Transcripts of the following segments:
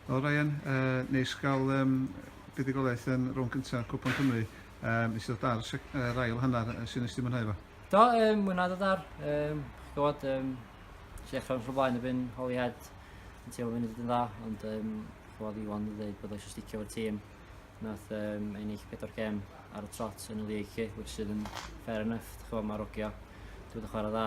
Wel Ryan, uh, neis gael um, buddugoliaeth yn rown cyntaf Cwpan Cymru. Um, nes i ddod ar uh, rail hanner sy'n nes di mwynhau fo? Do, um, mwynhau dod ar. Um, Gwybod, um, si ddechrau yn ffrwblaen y byn Holyhead yn teimlo fynd yn dda, ond um, chwod i wan yn dweud bod eisiau sticio o'r tîm. Nath um, ennill pedwar gem ar y trot yn y league, which sydd yn fair enough, chwod mae rogio. Dwi'n chwarae dda,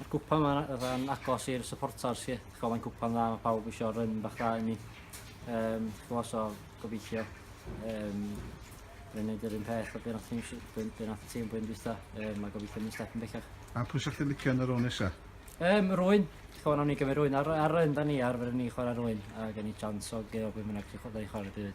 Ma'r gwpan ma'n a- fatha'n agos i'r supporters 'lly. Ch'mo' mae'n gwpan dda ma' pawb isio run bach dda inni. Yym ch'mo' so gobeithio yym rwy'n neud yr un peth a be' nath tîm sh- be' be' nath y tîm blwyddyn dwitha yym a gobeithio myn' step yn bellach. A pwy 'sa chdi'n licio yn y row nesa? Yym rwyn. Ch'mo' nawn ni gymryd rwyn ar ar run 'dan ni ar fy' ni chwara rwyn a gen ni chance o geo be' bynnag chi chwa- 'dan ni'n chwara byd.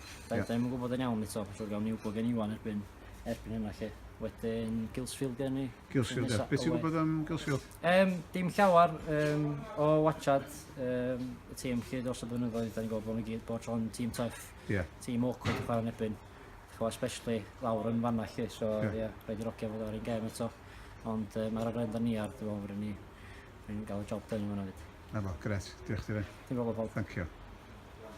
Da ni ddim yn gwybod yn iawn eto, siŵr gawn ni wybod gen Iwan erbyn, erbyn hynna lle. Wedyn Gilsfield gen ni. Gilsfield, ie. Beth ti'n gwybod am Gilsfield? Um, dim llawer um, o watchad um, y tîm lle dros y blynyddoedd, da ni'n gwybod bod nhw'n gyd bod tro'n tîm tuff, yeah. tîm awkward i chwarae nebyn. Chwa, especially lawr yn fanna lle, so ie, yeah. yeah, rhaid i'r ogio fod ar un gem eto. Ond um, ar y rhaid da ni ar, dwi'n meddwl, rydyn ni, rydyn ni'n gael y job dyn nhw'n fyd. Na fo, gret. Diolch ti fe. Ti'n gwybod, Paul. Thank you.